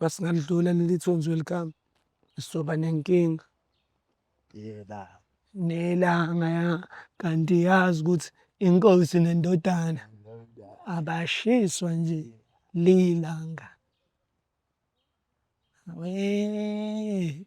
masingalidlula leli thunzi welikamu sizoba nenkinga nelanga ya kanti yazi ukuthi inkosi nendodana abashiswa nje lilanga wee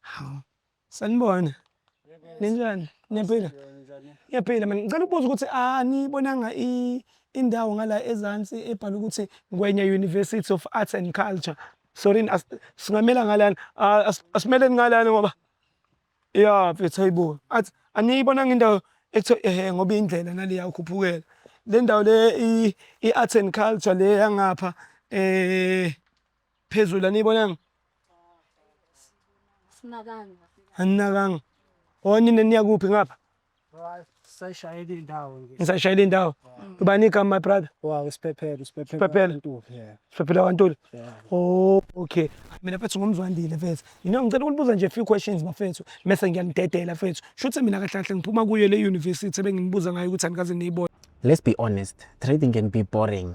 Hawu. Sanibona. Ninjani? Niyaphila? Ngiyaphila mina. Ngicela ukubuza ukuthi anibonanga i indawo ngala ezansi ebhala ukuthi Ngwenya University of Arts and Culture. Sorry as- singamela ngalana. Ah, as- Asimeleni ngalana ngoba ya mfethu hayibo. Athi aniyibonanga indawo ekuthiwa ehe ngoba indlela naleya ukhuphukela. Le ndawo le i- i-arts and culture le yangapha eh phezulu aniyibonanga aninakanga onina niya kuphi ngapha Sashayela indawo nje. nisashayela indawo ubani igama my brother Wow, isiphephelo, isiphephelo. Isiphephelo. Ntuli, yeah. siphephela kwantuli Yeah. Oh, okay. Mina fethu ngumzwandile fethu. Mina ngicela ukunibuza nje a few questions bafethu. Mese ngiyanidedela fethu. Shuthi mina kahle kahle ngiphuma kuyo le university ebenginibuza ngayo ukuthi anikaze niyibone. Let's be honest, trading can be boring.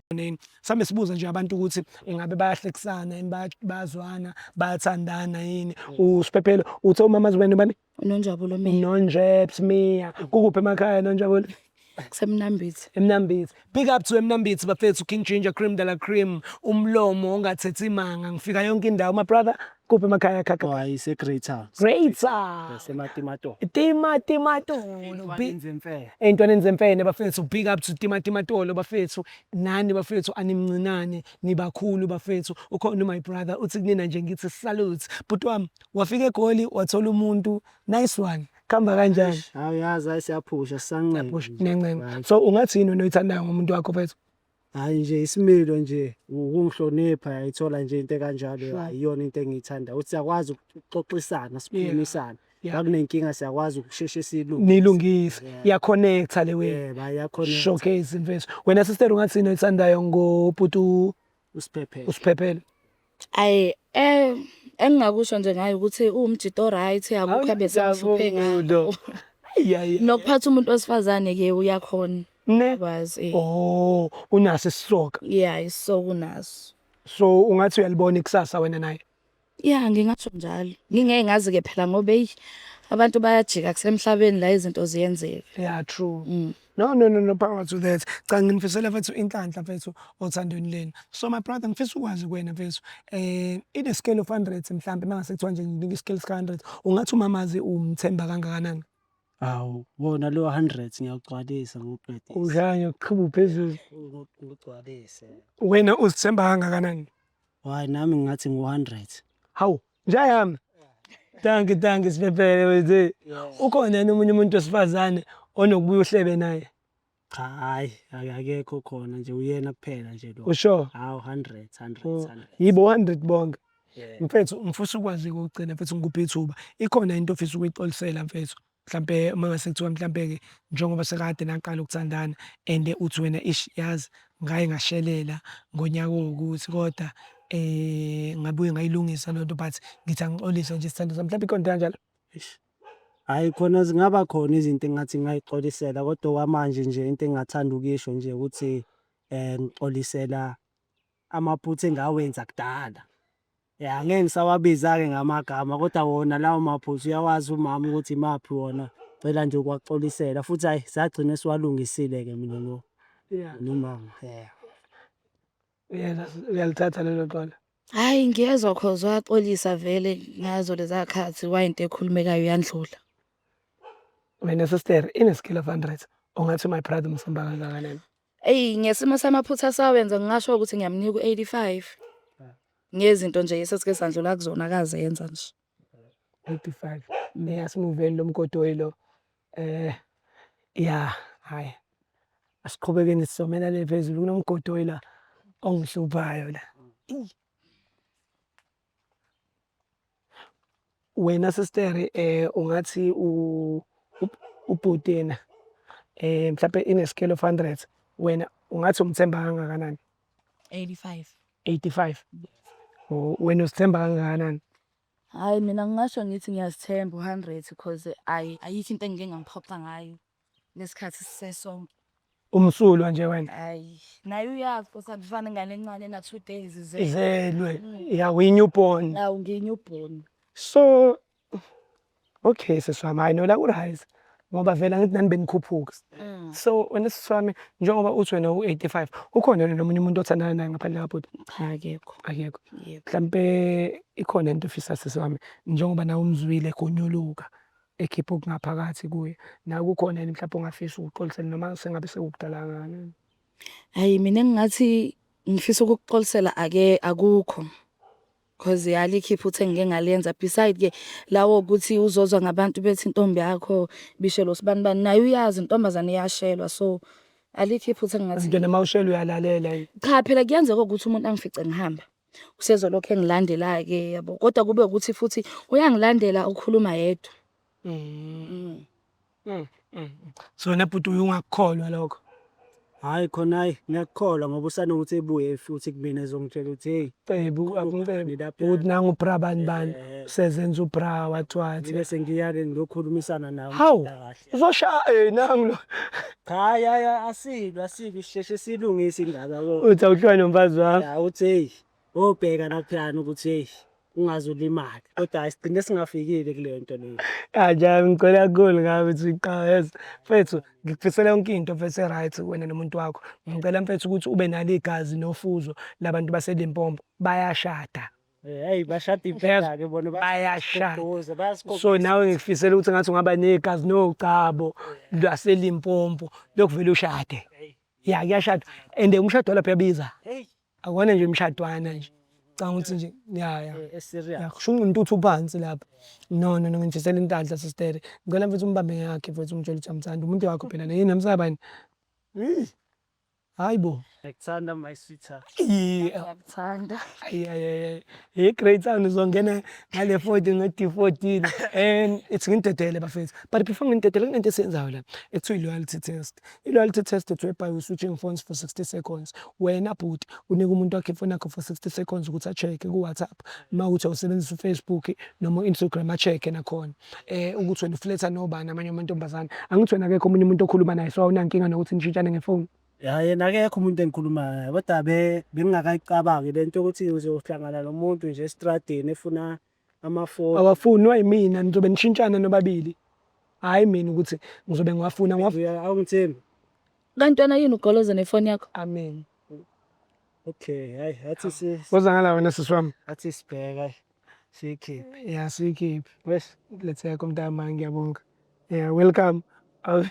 ezimboneni sambe sibuza nje abantu ukuthi ingabe bayahlekisana yini bayazwana bayathandana yini mm. usiphephelo uthe umama azibani bani unonjabulo mina unonjebs mia kukuphi emakhaya nonjabulo kusemnambithi emnambithi big up to emnambithi bafethu king ginger cream dala cream umlomo ongathethi imanga ngifika yonke indawo my brother kuphi emakhaya khakha Oh, hayi iseGreater. greater Sematimatoho. timatimatolo bi- Inzimfele. ey'ntwaneni zemfene bafethu big up to timatimatolo bafethu nani bafethu animncinane nibakhulu bafethu ukhona my brother uthi kunina nje ngithi salute bhuti wami wafika egoli wathola umuntu nice one kuhamba kanjani Hayi yazi hayi siyaphusha sisanqeni. Push, nje. nencenga Hayi. so ungathini wena oyithandayo ngomuntu wakho bafethu Hhayi nje isimilo nje ukungihlonipha yayithola nje into ekanjalo Sure. hhayi iyona into engiyithanda ukuthi siyakwazi ukuxoxisana sikhulumisane Yeah. makunenkinga siyakwazi ukusheshe silungise nilungise Yeah. iyaconnecta le wenu yebo ayakhona showcase imfethu wena sister ungathini oyithandayo ngobhuti u- usiphephe usiphephele Ayi eh engingakusho nje ngayo ukuthi uwumjita oright akukho abesahluphe ngalo. Nokuphatha umuntu wesifazane ke uyakhona. Ne? Kwazi. Eh. Oh, unaso isisoka. Yeah, isisoka unaso. So ungathi uyalibona ikusasa wena naye? Yeah, ngingasho njalo. Ngingeke ngazi ke phela ngoba hey abantu bayajika kusemhlabeni la izinto ziyenzeka. Yeah, true. Mm. No, no, no, no power to that. Cha nginifisela mfethu inhlanhla mfethu othandweni lenu. So my brother ngifisa ukwazi kuwena mfethu eh in a scale of 100 mhlambe mangase kuthiwa nje nginika i-scale sika 100 ungathi umamazi umthemba kangakanani? Hawu, wona lo 100 ngiyawugcwalisa ngikuqedise. Udlanya uqhuba uphezulu. Ngigcwalise. Wena uzithemba kangakanani? Why nami ngathi ngu-100. Hawu, Njayami. Thank you, thank you siphephele wethu. Ukhona yena omunye umuntu wesifazane onokubuya uhlebe naye. Cha hayi akekho khona nje uyena kuphela nje lo. Usho? Hawu 100 100 100. Yibo 100 bonke. Mfethu ngifisa ukwazi ukugcina mfethu ngikuphi ithuba. Ikhona into ofisa ukuyixolisela mfethu? Mhlampe uma ngase kuthiwa mhlampe-ke njengoba sekade naqala ukuthandana and uthi wena ish yazi ngaye ngashelela ngonyaka owukuthi kodwa eh ngabuye ngayilungisa lento but ngithi angixolise nje isithando sami mhlawumbe ikhona into kanjalo Hhayi khona zingaba khona izinto engathi ngingayixolisela kodwa okwamanje nje into engingathanda ukuyisho nje ukuthi um ngixolisela amaphutha engawenza kudala ya ngeke ngisawabiza-ke ngamagama kodwa wona lawo maphutha uyawazi umama ukuthi imaphi wona cela nje ukwaxolisela futhi hhayi sagcine siwalungisile-ke mina no nomama ya uyalithatha lelo xola Hhayi ngiyezwa cause wayaxolisa vele ngazo leza khathi wayinto ekhulumekayo yandlula. Mina sister ineskill of hundreds ungathi my brother umsumba kangakanani. Eyi ngesimo samaphutha asawenza ngingasho ukuthi ngiyamnika u-85 ngezinto nje esesike sandlula kuzona akazenza nje 85 mina simuveli lo mgodoyi lo eh ya hayi asiqhubekeni sizomela le phezulu kunomgodoyi la ongihluphayo la wena sister eh ungathi u ubhutena eh mhlawumbe ine scale of 100 wena ungathi umthemba kangakanani 85 85 oh wena usithemba kangakanani hayi mina ngingasho ngithi ngiyazithemba u100 because ayi ayikho into engike ngangiphoxa ngayo nesikhathi sisesonke umsulwa nje wena hayi naye uyazi kusakufana ingane encane na two days ize izelwe ya winyu born nawu nginyu born so okay seswami hayi nola kuright ngoba vela ngithi nani benikhuphuka mm. so wena seswami njengoba uthi wena u-85 ukhona yena nomunye umuntu othandana naye ngaphandle kabhuti akekho akekho mhlampe ikhona into ofisa seswami njengoba nawe umzwile egonyuluka ekhipha okungaphakathi kuye nawe kukhona yini mhlawumbe ongafisa ukuxolisela noma sengabe sekukudala kangakanani hayi mina ngingathi ngifisa ukukuxolisela ake akukho cause yali ikhipha uthe ngike ngaliyenza beside ke lawo ukuthi uzozwa ngabantu bethi intombi yakho bishelo sibani bani naye uyazi intombazane iyashelwa so alikho iphutha engingathi Ngidona mawushela uyalalela yini? cha phela kuyenzeka ukuthi umuntu angifice ngihamba usezolokhu engilandela-ke yabo kodwa kube ukuthi futhi uyangilandela ukhuluma yedwa mm. Mm, mm. so wena bhuti uye ungakukholwa lokho hhayi khona hhayi ngiyakukholwa ngoba usanokuthi ebuye futhi kumina ezongitshela ukuthi heyi cebu akucebuuthi nangu ubra bani bani eh. sezenza ubra wathiwathi bese ngiya-ke ngiyokhulumisana nawe hawu kahle Uzoshaya eh nangu lo. Hayi hayi asibi asibi sisheshe silungise indaba lo. Uthi awuhlwa nomfazi wami. Ya uthi hey obheka naphana ukuthi hey ungaze ulimale. Kodwa isigcine singafikile kule nto leyo. Kanjani ngicela kakhulu ngabe uthi uyiqaweza. Mfethu ngikufisela yonke into mfethu eright wena nomuntu wakho. Ngicela mfethu ukuthi ube nalo igazi nofuzo labantu baseLimpopo bayashada. Hey eh, bashada impela ke bona bayashada. So nawe ngikufisela ukuthi ngathi ungaba negazi nogcabo lwaseLimpompo lokuvela ushade. Ya kuyashada and umshado lapha yabiza. Akona nje umshadwana nje. Canga ukuthi nje ya ya. Eh, eh, ya kusho umuntu uthi uphansi lapha. No no no ngifisela intandla sister. Ngicela mfethu umbambe yakhe mfethu umtshela ukuthi amthanda umuntu wakho phela yini namsabani. Hayi bo. Ngikuthanda my sweetheart. Ngiyakuthanda. Hey great sound uzongena ngale 40 nge D14 and it's ngintedele bafethu. But before ngintedele kunento esiyenzayo la ekuthiwa loyalty test. I loyalty test it's whereby you switching phones for 60 seconds. Wena bhuti unika umuntu wakhe ifoni yakho for 60 seconds ukuthi a check ku WhatsApp. Mawuthi usebenzisa uFacebook noma Instagram a check nakhona. eh ukuthi wena ufletha nobani amanye amantombazane angithi wena akekho omunye umuntu okhuluma naye so awunankinga nokuthi nishintshane ngefoni ya yena akekho umuntu engikhuluma naye kodwa be bengingakayicabangi le nto yokuthi uzohlangana nomuntu nje estradini efuna amafoni awafunwa yimina nizobe nishintshana nobabili hhayi mina ukuthi ngizobe ngiwafuna ngiwafuna Uya- awungithembi kantwana yini ugoloza nefoni yakho amen Okay, hayi athi si Woza ngala wena sisi wami. athi sibheka siyikhiphe. Yeah, siyikhiphe. Wes Letheka umntama ngiyabonga. Yeah, welcome. Awu,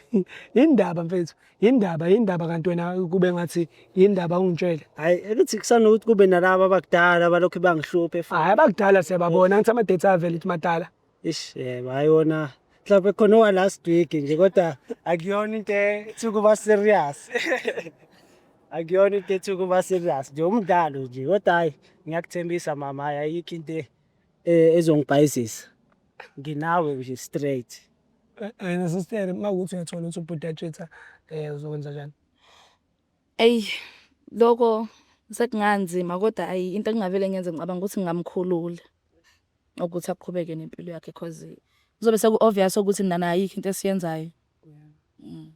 Yindaba mfethu. Yindaba, yindaba kanti wena kube ngathi yindaba ungitshele. Hayi ukuthi kusanokuthi kube nalaba abakudala balokhu bangihluphe Hayi futhi. abakudala siyababona ngithi ama-data avele ukuthi madala. Ish yebo hayi wona mhlawumbe khona owa last week nje kodwa akuyona into ethi ukuba serious akuyona into ethi ukuba serious nje umdlalo nje kodwa hayi ngiyakuthembisa mama hayi ayikho into e- e- ezongibhayizisa nginawe nje straight wena sister uma ukuthi uyathola ukuthi ubhuti yatshitha um uzokwenza njani Eyi loko sekunganzima kodwa ayi into engingavele ngenze ngicabanga ukuthi ngingamkhulula ukuthi aqhubeke nempilo yakhe cause kuzobe seku-obvious ukuthi nana ayikho into esiyenzayo mm.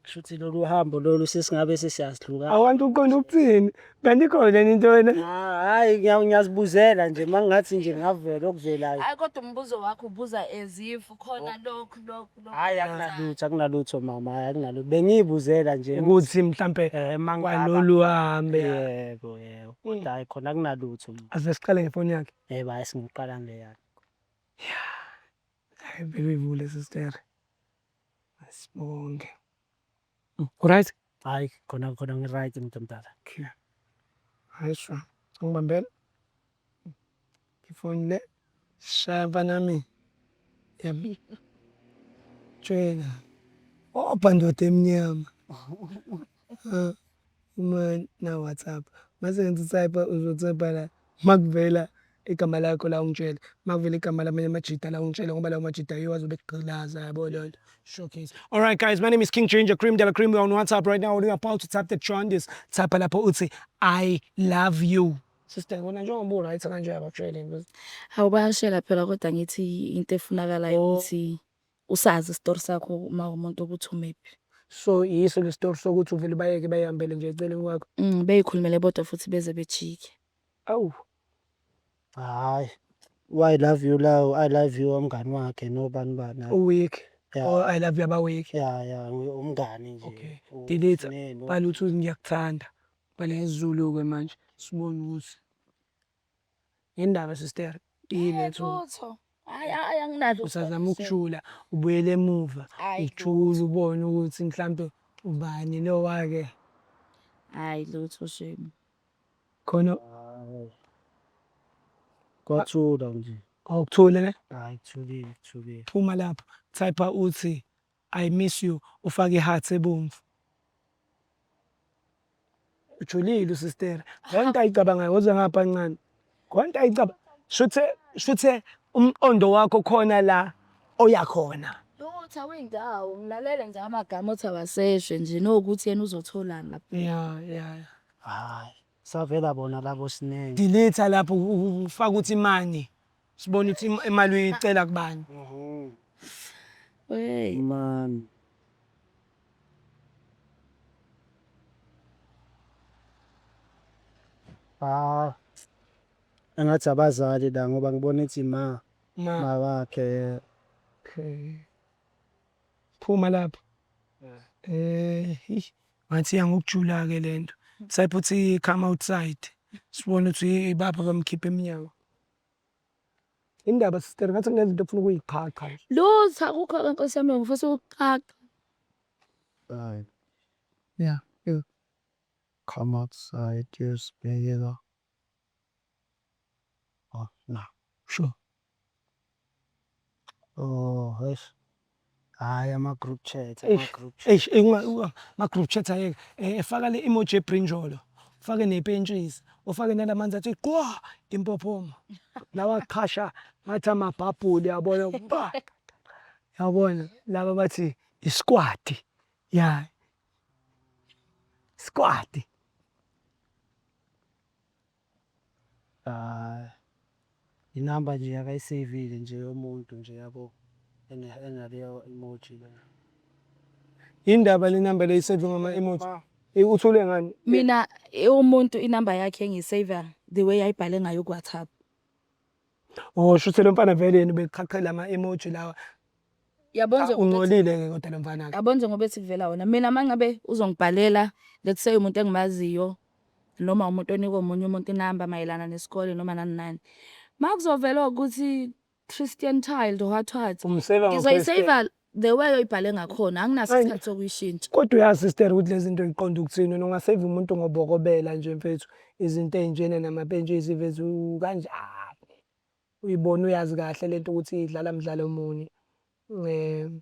shuthi lolu hambo lolu sesingabe sesiyazihluka awantu uqonda ukuthini kanti ikhona leni into wena hayi ngiyazibuzela nje mangingathi nje ngavela okuvelayo hayi kodwa umbuzo wakho ubuza as if khona lokhu lokhu Hayi akunalutho akunalutho mama hayi akunalutho bengiyibuzela nje ukuthi mhlambe eh mangaba kwalolu hambe yebo yebo kodwa hayi khona akunalutho mama aze siqale ngefoni yakhe yebo hayi singiqala nge yakhe hayi bebe ivule sister asibonge Uright? Hayi khona khona ngiright mntu omdala. Okay. Hayi sho. Ngibambela. Ifoni le shaya mfanami. Yami. Tshwela. Obha ndoda emnyama. Uma naWhatsApp mase ngithi utype uzotypa la makuvela igama lakho la ungitshele makuvela igama lamanye amajita la ungitshele ngoba lawo majita yiwo azobe ekugqilaza yabo leyo nto showcase all right guys my name is king ginger cream dela cream we are on whatsapp right now we are about to tap the jaundice type lapho uthi i love you sister kona njengoba u-right kanje abakushayele awu bayashela phela kodwa ngithi into efunakalayo oh. ukuthi Usazi isitori sakho uma umuntu ukuthi umephi. So yiso le story sokuthi uvele ubayeke bayihambele nje eceleni kwakho. Mm, beyikhulumele bodwa futhi beze bejike. Awu. Hayi. I love you lawo, I love you umngani wakhe nobani bani. hayi. Uweak. Yeah. Or I love you abaweak. Ya ya ngi- umngani nje. Okay. U- Delete. Neno. Bhala ukuthi ngiyakuthanda. Bhala isiZulu-ke manje. Sibone ukuthi. Ngendaba sister iletho. Hayi hayi anginalo. Usazama ukujula ubuyele emuva ujule ubone ukuthi mhlambe ubani lo wake. Hayi lutho shame. Khona kwathula nje. Awukuthule ne? Hayi kuthulile kuthulile. Phuma lapha. Type uthi I miss you ufake i hearts ebomvu. Ujulile usistere. Konke ayicabangayo woza ngapha ncane. Konke ayicaba shuthe shuthe umqondo wakho khona la oya khona. Ukuthi awuyindawo ngilalele nje amagama othi awaseshe nje nokuthi yena uzotholani lapha. Yeah yeah. Hayi savela bona labo sinenge. Delete lapho ufaka ukuthi money. Sibone ukuthi im- imali uyicela kubani. Hey. Mani. Ah. Engathi abazali la ngoba ngibona ithi ma Ma, ma wakhe. yeah. okay. Phuma lapho. Eh, eish, ngathi iya ngokujula ke lento. Sayiphuthi come outside. Sibone ukuthi ibapha bamkhipha emnyango. Indaba sister ngathi kunento ofuna ukuyiqhaqha. Lutha kukho ke nkosi yami ngifisa ukuqhaqha. Hayi. Yeah. yeah. Come outside, just bhekela. Oh, no. Sure. Oh, eish. Hayi ama group chat, ama Eish, group chat. eish, eh, unga- unga- ma group chat ayeke Eh, efaka le emoji ebrinjolo ufake nepentshisi ufake nalamanzi athi qwa impophoma lawa qhasha ngathi amabhabhuli yabona ba yabona laba bathi isikwati ya sikwati Ay i number nje akayiseyivile nje yomuntu nje yabo enaleyo emoji leyo. Yini ndaba le number le isave ngama emoji? Eh, uthule ngani? Mina eh, umuntu inumber yakhe ngiyisaver the way ayibhale ngayo kuWhatsApp. Oh shuthi lo mfana vele yena ubeqhaqhela ama emoji lawa. Yabona Ah, nje ukuthi- Ungcolile ke kodwa lo mfana ke. yabona nje ngoba ethi kuvela wona mina uma ngabe uzongibhalela let's say umuntu engimaziyo noma umuntu onika omunye umuntu inamba mayelana nesikole noma nani nani uma kuzovela ukuthi christian child what what Umseva ngizoyiseva The way oyibhale ngakhona anginaso Ay. isikhathi sokuyishintsha. Kodwa uyazi sister ukuthi lezi zinto ziqonda ukuthini wena ungaseva umuntu ngobokobela nje mfethu izinto ey'njena namapentshisi mfethu kanjani uyibona uyazi kahle lento ukuthi idlala mdlalo muni um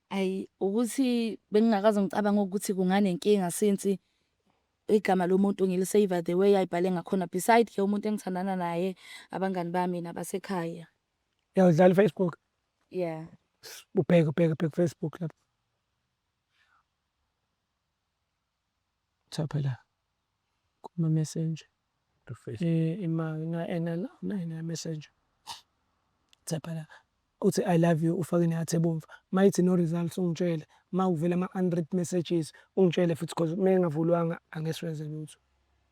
Ayi ukuthi bengingakaze ngicabange ukuthi kunganenkinga since igama lomuntu ngilisave the way ayibhale ngakhona beside ke umuntu engithandana naye abangani bami nabasekhaya. uyawudlala ufacebook Yeah. S- Ubheke ubheke ubheke Facebook lapho. Cha phela. Kuma messenger. to face. Eh ima ina ena la na ina messenger. Cha phela. Uthi I love you ufake ne heart ebomvu. Mayithi no results ungitshele. Mawuvela ama unread messages ungitshele futhi because mengavulwanga angesiwenze lutho.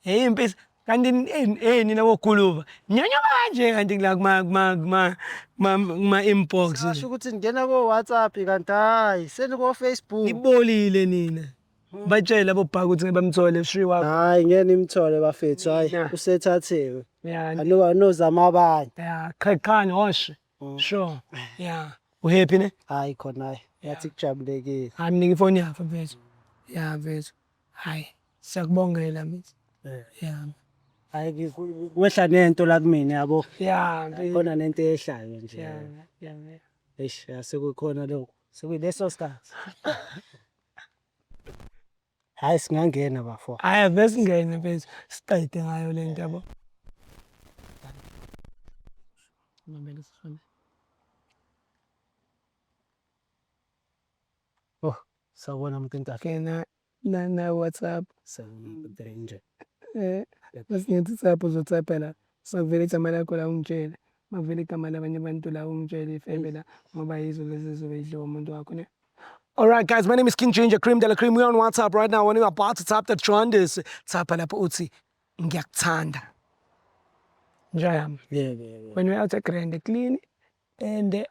Hey mfethu kanti hey nina boguluva nyanyuka kanje kanti la kuma kuma kuma kuma inbox nje ukuthi ngena ko WhatsApp kanti hayi seni ko Facebook ibolile nina hmm. batshela bobhaka ukuthi ngebamthole shri wakho hayi ngeke imthole bafethu hayi usethathiwe anoba anozama abanye ya qhaqhani hoshe Mm. Sure. Yeah. Uhappy ne? Hayi khona hayi. Yathi kujabulekile. Hayi mina ngifoni yakho mfethu. Yeah mfethu. Hayi. Siyakubongela mfethu. Eh. Yeah. Hayi kwehla nento la kumina yabo. Yeah. Khona nento ehlayo nje. Yeah. Yeah. Eish, sekukhona lokho. Sekuyileso sikhathi. Hayi singangena bafo. Hayi avesingene mfethu siqede ngayo le nto yabo. Ngibambele sifone. Oh, sawubona muntu intatha. Kena na na WhatsApp. Sawubona nje. Eh, bese ngithi WhatsApp uzotsapela. Sekuvele igama lakho la ungitshele. Makuvela igama labanye abantu la ungitshele ifebe la ngoba yizo lezi ezizobe idliwa umuntu wakho ne. Alright guys, my name is King Ginger Cream Dela Cream. We're on WhatsApp right now. When you're about to tap that Johandes, tap lapho uthi ngiyakuthanda. Njayami. Yeah, yeah, yeah. When we're out at Grand clean and eh,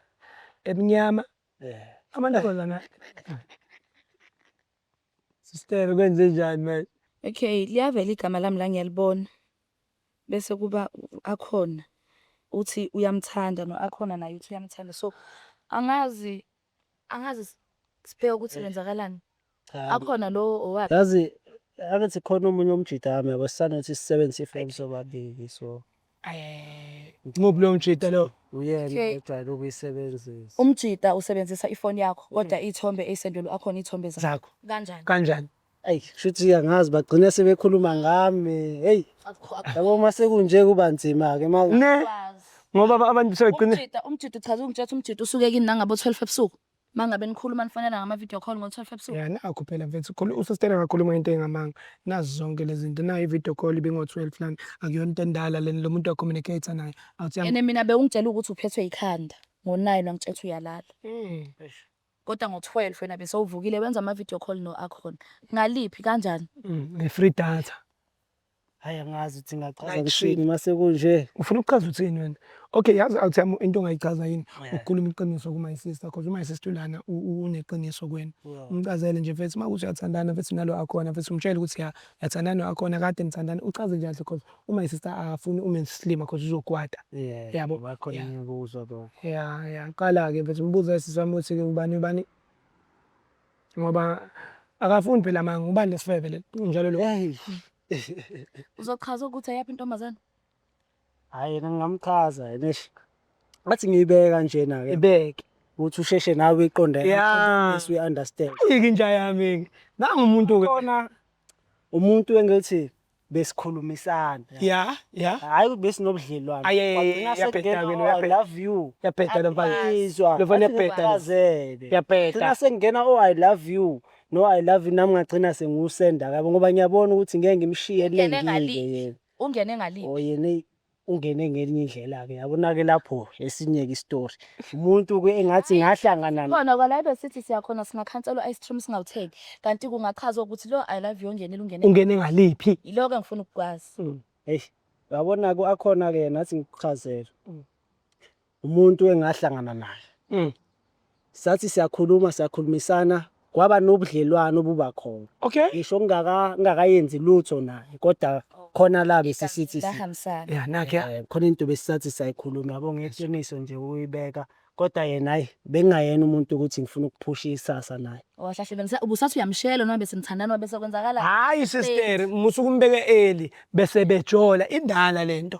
ebnyama. Yeah. Amantombazana. Sister kwenze njani manje? Okay, liyavela igama lami la ngiyalibona. bese kuba u-Akhona uthi uyamthanda no-Akhona naye uthi uyamthanda so angazi angazi sibheke ukuthi kwenzakalani akhona lowo owakhe yazi angithi khona omunye umjita wami yabo sisanothi sisebenzisa ifoni sobabili so Muphi lo mjita lo? uyena Okay. ojwayele ukuyisebenzisa umjita usebenzisa ifoni yakho kodwa iy'thombe ey'sendelwe akhona iy'thombe zakho Zakho kanjani kanjani? Eyi shuthi angazi bagcine sebekhuluma ngami. Hey, yabo uma sekunje kuba nzima ke ma. Ne ngoba aba- abantu sebegcine Umjita, umjita uchaza ungitshela ukuthi umjita usuke kini nangabo 12 ebusuku. Mangabe nikhuluma nifonela ngama video call ngo 12 ebusuku. ya nakho phela mfethu khulu- usistena akakhuluma into engamanga nazi zonke lezi zinto nayo i-video call ibingo-12 lana akuyona into endala lena lo muntu wacommunicate naye awuthi yam- Ene mina bewungitshela ukuthi uphethwe ikhanda ngo 9 wangitshela ukuthi uyalala. Mm. Kodwa ngo 12 wena besowuvukile wenza ama video call no Akhon. Ngaliphi kanjani? Mm, nge free data. Hayi angazi ukuthi ngachaza Like kuthini shit. mase kunje. Ufuna ukuchaza uthini wena? Okay, yazi I'll tell you into ongayichaza yini. Yeah. Ukukhuluma iqiniso ku my sister because u my sister lana u- u- uneqiniso kuwena. Yeah. Umchazele nje mfethu uma ukuthi uyathandana mfethu nalo akhona mfethu umtshele ukuthi ya yathandana akhona kade nithandana uchaze nje kahle because u my sister afuni ume slima cause uzokwata yeah yabo bakho ngibuzo lo yeah yeah qala ke mfethu umbuzo esisami uthi ke ubani ubani ngoba akafuni phela manga ubani lesifebe le njalo lo uzochaza ukuthi ayaphi intombazana hayi yena ngingamchaza yena athi ngiyibeka njena ke ibeke ukuthi usheshe nawe iqonde yeah we understand ikinja yami nangu umuntu ke khona umuntu engithi besikhulumisana ya ya hayi besinobudlelwano Aye, aye, aye, Wagcina uyabheda sekungena, wena, oh, i uyabheda. love you Uyabheda lo mfana. Angizwa, Lo mfana athi uyabheda lo. ngifakazele. Uyabheda. Gcina sekungena oh i love you no i love you nami ngagcina sengiwusenda kabo ngoba ngiyabona ukuthi ngeke ngimshiye Ungene elengile ngaliphi? yena ungene ngaliphi oh yena eyi, ungene ngelinye indlela-ke yabona-ke lapho esinye-ke isitori umuntu-ke engathi ngahlangana n- khona kwala besithi siyakhona singakhanselwa ice cream singawutheki kanti kungachazwa ukuthi lo i love you ongenile ungene ungene ngaliphi yiloko engifuna ukukwazi Mm, eish yabona-ke akhona-ke yena athi ngikuchazele umuntu engahlangana naye mm. sathi siyakhuluma siyakhulumisana kwaba nobudlelwano obuba khona okay ngisho ngingakayenzi lutho naye kodwa khona la besisithi ya nakhe eh, khona into besisathi sayikhuluma yabo ngeqiniso nje uyibeka kodwa yena hayi bengingayena umuntu ukuthi ngifuna ukuphusha isasa naye wahlahlebenzisa ubusathi uyamshela noma bese nithandana bese kwenzakala hayi sister musukumbeke eli bese bejola indala lento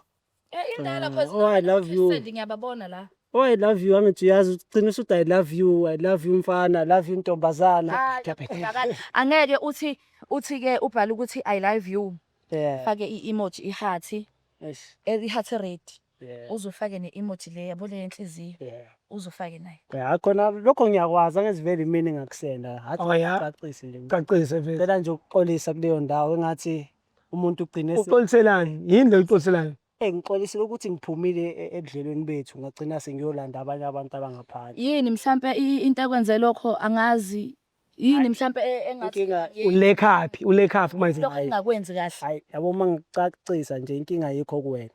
Eh indala cause Oh, I love you. Send ngiyababona la. Oh, I love you angithi uyazi ugcina usuthi I love you, I love you mfana, I love you ntombazana. Hayi, kungakala. Angeke uthi uthi ke ubhala ukuthi I love you. Yeah. Fake i-emoji i-heart, Yes. eh, i-heart red. Yeah. Uzofake ne-emoji le yabo le yenhliziyo. Yeah. Uzofake nayo. Ya khona lokho ngiyakwazi angiziveli imini ngakusenda. Oh, yeah. Hacacisi nje. Cacise vele. Ngicela nje ukuxolisa kuleyo ndawo engathi umuntu ugcine se- uxoliselani yini le uxoliselani Eh, ngixolisile ukuthi ngiphumile e- ebudlelweni bethu ngagcina sengiyolanda abanye abantu abangaphandle yini mhlampe i- into ekwenze lokho angazi yini mhlampe e- engathi inkinga yini ulekhaphi ulekhaphi manje lokho engakwenzi kahle hayi yabo uma ngicacisa nje inkinga yikho kuwena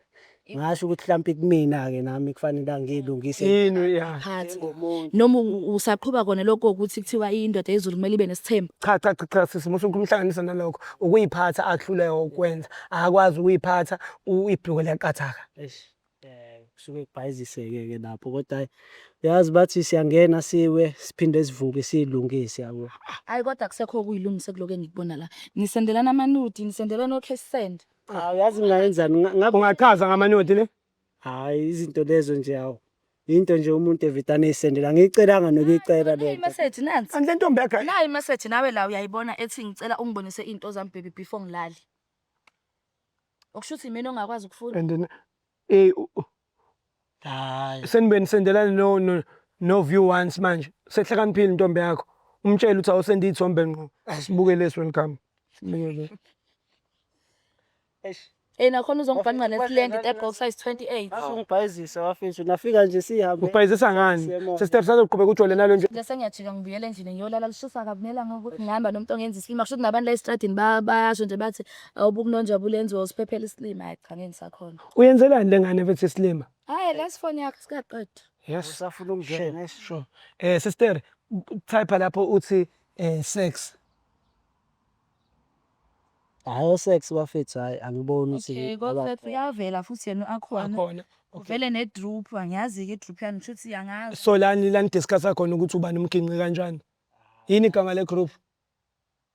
ngasho ukuthi mhlawumbe kumina-ke nami kufanele angiyilungise yini ya phansi ngomuntu noma u- usaqhuba kona lokho ukuthi kuthiwa indoda yezulu kumele ibe nesithembu cha cha cha cha sisi musuku umhlanganisa nalokho ukuyiphatha akuhluleka ukwenza akakwazi ukuyiphatha u- ibhluke liyaqathaka Eish, eh, kusuke kubhayiziseke-ke lapho kodwa hhayi uyazi bathi siyangena siwe siphinde sivuke siyilungise yabo hayi kodwa kusekho okuyilungise kuloko engikubona la nisendelana amanudi nisendelana o-cash send Hawu yazi ngingayenzani nga- ngabe Ungachaza ngamanothi ne? hayi izinto lezo nje hawu. Into nje umuntu evidane eyisendela ngiyicelanga nokuyicela le Nayi nto. message nansi. Kanti le ntombi yakhe Nayi message nawe la uyayibona ethi ngicela ungibonise into zami baby before ngilale. Okusho ukuthi imina ongakwazi ukufunda. and then eh u- u- hayi Senibeni nisendelana no no, no view once manje. Sehlakaniphile intombi yakho. Umtshele ukuthi awusende ithombe ngqo. Asibuke lesi welcome. Sibuke le. eish Ey nakhona uzongibhanqa nesilenge te box size 28. Awu. ungibhayizisa wafethu nafika nje sihambe Ubhayizisa ngani? Siyabonga. Sesitep sazoqhubeka ujole nalo nje. Nje sengiyajika ngibuyele endlini ngiyolala lishisa kabi nelanga ukuthi ngihamba nomuntu ongenza isilima kusho ukuthi nabantu la estradini ba- bayasho nje bathi awubukunonjabula enziwa usiphephela isilima hayi cha ngeke ngisakhona Uyenzelani lengane mfethu islima? Hayi lesi phone yakho sikaqedwa. Yes. Usafuna ukungena Sure, nesi. sure. Eh sister, type lapho uthi eh sex. Hayi osex bafethu hayi angiboni ukuthi Okay, kodwa aba- uyavela futhi yena akhona. Akhona. Uvele ne drop, angiyazi ke i drop yani shuthi yangazi. So lani lani discuss khona ukuthi ubani umginqi kanjani. Yini igama le group?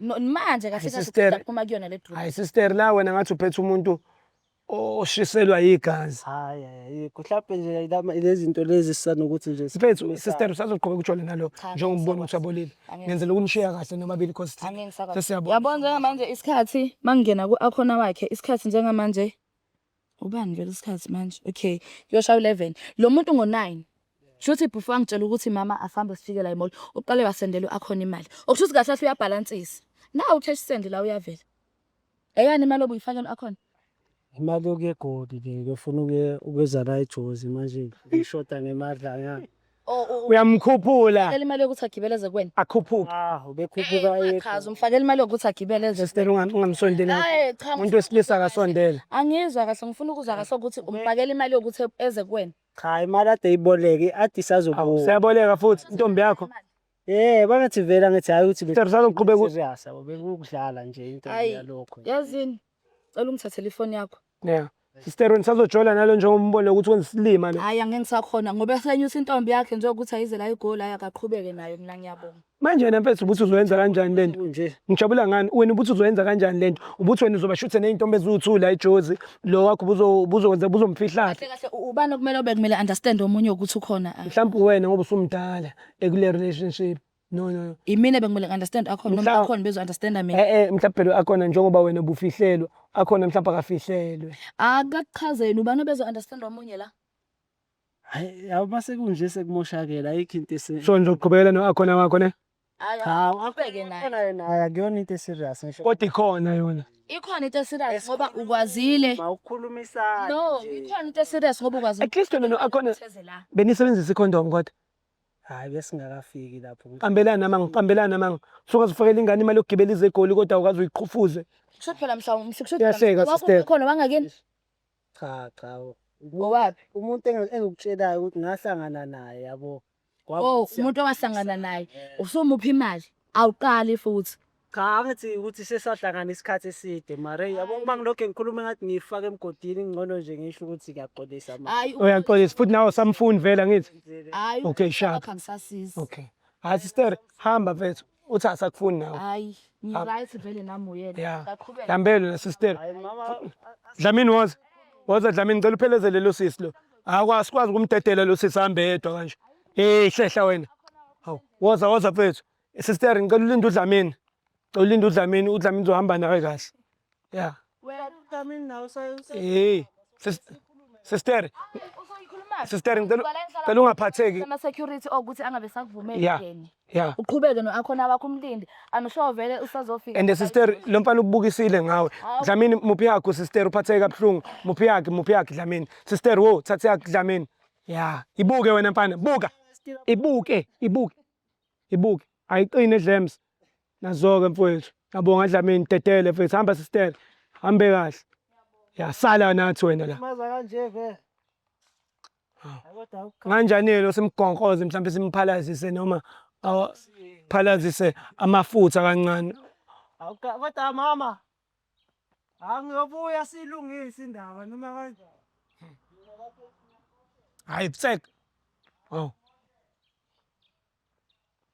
No- manje kahle Ay, kahle sister. siphuma kuyona le drop hayi sister la wena ngathi uphethe umuntu oshiselwa yigazi Hayi, hayi, ayikho. Mhlampe nje ilama- ilezinto lezi sisanokuthi nje mfethu sikhulume sister sazo. usazoqhubeka utshwale nalo Cha, njengoba ubona ngisakwazi. ukuthi abolile Angeke. ngenzela ukunishiya kahle nomabili cause thina angeke ngisakwazi sesiyabona. yabona njengamanje isikhathi mangingena ku-akhona wakhe isikhathi njengamanje Ubani vele isikhathi manje? Okay, kuyoshaya u-11. Lo muntu ngo-9. Kusho ukuthi before angitshela ukuthi mama asambe sifike la emall, uqale wasendela u-Akhona imali. Okusho ukuthi kahle kahle uyabhalansisa. Nawu u-cash send la uyavela. Eyani imali obuyifakela u-Akhona? Imali yokuya eGoli le ngiyofuna ukuye ukuyozala ijozi manje ngishoda ngemadlanyana. Oh, oh, oh. uyamkhuphula Fakela imali yokuthi agibele eze kuwena. akhuphuke Ah, ubekhuphuka Eh, yedwa. Chaza umfakela imali yokuthi agibele eze. sister unga- ungamsondeli Hayi cha. umuntu wesilisa akasondele Angizwa kahle ngifuna ukuzwa kahle ukuthi umfakela imali yokuthi eze kuwena. Cha, imali ade iboleke, ade isazobuya. seyaboleka futhi intombi yakho Eh, bangathi vela ngithi hayi ukuthi sister usazoqhubeka u- serious abo bekukudlala nje into Ayi. yalokho. Yazini Cela ungithathele ifoni yakho. Yeah. Sister wena sazojola nalo njengoba umbone ukuthi wenza isilima lo. Hayi angeke ngisakhona ngoba esenyusa intombi yakhe nje ukuthi ayize la igoli hayi akaqhubeke nayo mina ngiyabonga. Manje yena mfethu ubuthi uzoyenza kanjani lento? Nje. Ngijabula ngani? Wena ubuthi uzoyenza kanjani lento? Ubuthi wena uzoba shuthe nezintombi eziwu2 la eJozi. Lo wakho ubuzo ubuzokwenza ubuzomfihlaphi? Kahle kahle u- ubani okumele obe kumele understand omunye ukuthi ukhona. ah. Mhlawumbe wena ngoba usumdala ekule relationship. no no no imina bekumele ngi-understand akhona noma Mhla- akhona bezo-understanda mina eh eh mhlawumbe phela akhona njengoba wena bufihlelwa akhona mhlawumbe akafihlelwe akakuchazeni ubani obezo-understand omunye la Hayi, yabo mase kunje sekumoshakele ayikho into ese so ngizoqhubekela no akhona wakho ne Ayi, Hawu, aqhubeke naye Khona yena hayi akuyona into eserious ngisho kodwa ikhona yona ikhona into eserious ngoba ukwazile ma ukukhulumisana no nje. ikhona into eserious ngoba ukwazile at least wena no akhona Theze la. benisebenzisa icondom kodwa Hayi besingakafiki lapho. Ngiqambelana manga, ngiqambelana manga. Sungazifakela ingane imali yokugibela ize eGoli kodwa awukaze uyiqhufuze. Kusho phela mhlawumbe sikusho Uyahleka, sister. khona wangakini Cha cha. ngowaphi Umuntu engi- engikutshelayo ukuthi ngahlangana naye yabo. Kwaba- oh umuntu owahlangana naye usumupha imali awuqali futhi Cha angithi ukuthi sesahlangana isikhathi eside mara hey yabo uma ngilokhu ngikhuluma ngathi ngiyifaka emgodini ngcono nje ngisho ukuthi ngiyaxolisa mara hayi uyaxolisa futhi nawe samfuni vele angithi hayi Okay, shaka. lapha ngisasiza okay hayi sister hamba mfethu uthi asakufuni nawe hayi ngiright vele nami uyena ya ngaqhubeka dambelo la sister hayi mama dlamini woza woza dlamini ngicela uphelezele lo sisi lo akwa sikwazi ukumdedela lo sisi hambe yedwa kanje hey hlehla wena hawu woza woza mfethu Sister ngicela ulinde uDlamini. Ngicela ulinde uDlamini, uDlamini uzohamba nawe kahle. Yeah. Wena uDlamini nawe usayosa. Hey. Sister. Sister. Sister ngicela ngicela ungaphatheki. Ama security okuthi angabe sakuvumeli Yeah. ngene. Yeah. Uqhubeke noakhona wakho umlindi. I'm sure vele usazofika. And sister lo mfana ubukisile ngawe. Hawu. Dlamini muphi yakho sister uphatheke kabuhlungu. Muphi yakhe muphi yakhe Dlamini. Sister wo thathe yakhe Dlamini. Yeah. Ibuke wena mfana buka. Ibuke ibuke. ibuke ayiqine dlems nazoke mfowethu ngiyabonga dlamini dedele mfowethu hamba sister hambe kahle yasala nathi wena la maza kanje vele kanjani-ke simgonkoze mhlawumbe simphalazise noma phalazise amafutha kancane kodwa mama Hawu ngiyobuya siyilungise indaba noma kanjani. Hayi bsek. Oh.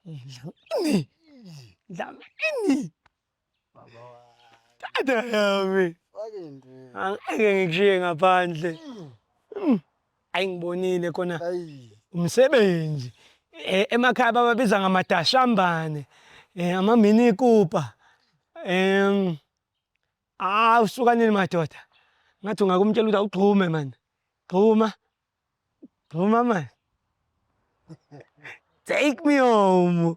Ini. Ndlanga ini. Baba wa. Tata yami. Angeke ngikushiye ngaphandle. Mm. Ayi ngibonile khona umsebenzi eh, emakhaya bababiza ngamadashambane eh, amamini kupa em ah usukanile madoda ngathi ungakumtshela ukuthi awugxume mani gxuma gxuma mani take me home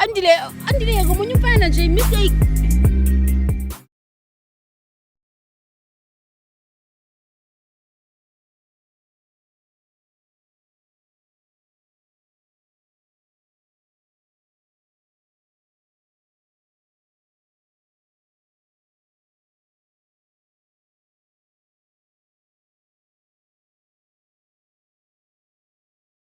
Andile, andile yeka omunye umfana nje mistake.